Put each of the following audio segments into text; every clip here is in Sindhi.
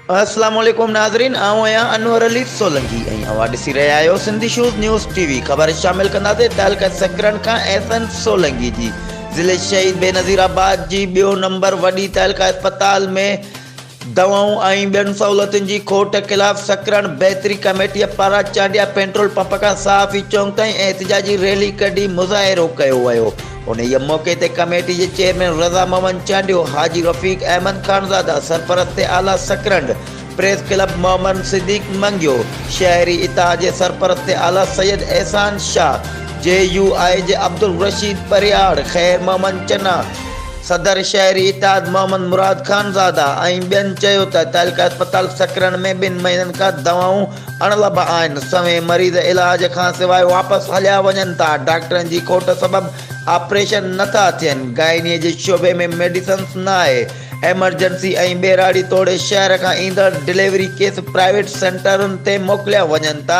السلام عليڪم ناظرين آئون آهيان انور علي سولنگي ۽ اوهان ڏسي رهيا آهيو Sindhi shows news TV خبر شامل ڪنداسين تعلقه سڪرن کان احسن سولنگي جي ضلعي شهيد بينظير آباد جي ٻيو نمبر وڏي تعلقه اسپتال ۾ دوائون ۽ ٻين سهولتن جي کوٽ خلاف سکرن بهتري ڪميٽيء پاران چانڊيا پيٽرول پمپ کان صحافي چونڪ تائين احتجاجي ريلي ڪڍي مظاهرو ڪيو ويو. انهيء موقعي تي ڪميٽي جي چيئرمين رضا محمد چانڊيو، حاجي رفيق احمد خانزاده، سرپرست اعليٰ سکرنڊ، پريس ڪلب محمد صديق منگيو، شهري اتحاد جي سرپرست اعليٰ سيد احسان شاهه، جي يو آء جي عبدالرشيد پرهياڙ، خير محمد چنا، صدر شهري اتحاد محمد مراد خانزاده ۽ ٻين چيو ته تعلقه اسپتال سڪرنڊ ۾ ٻن مهينن کان دوائون اڻ لڀ آهن، سوين مريض علاج کانسواء واپس هليا وڃن ٿا، ڊاڪٽرن جي کوٽ سبب آپريشن نه ٿا ٿين، گائنيء جي شعبي ۾ ميڊيسنس نه آهي، ايمرجنسي ۽ ٻهراڙي توڙي شهر کان ايندڙ ڊليوري ڪيس پرائيويٽ سينٽرن تي موڪليا وڃن ٿا،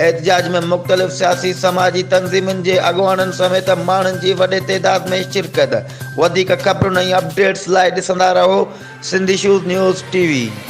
احتجاج ۾ مختلف سياسي سماجي تنظيمن جي اڳواڻن سميت ماڻهن جي وڏي تعداد ۾ شرڪت وڌيڪ خبرن ۽ اپڊيٽس لاء ڏسندا رهو سنڌ ايشوز نيوز ٽي وي.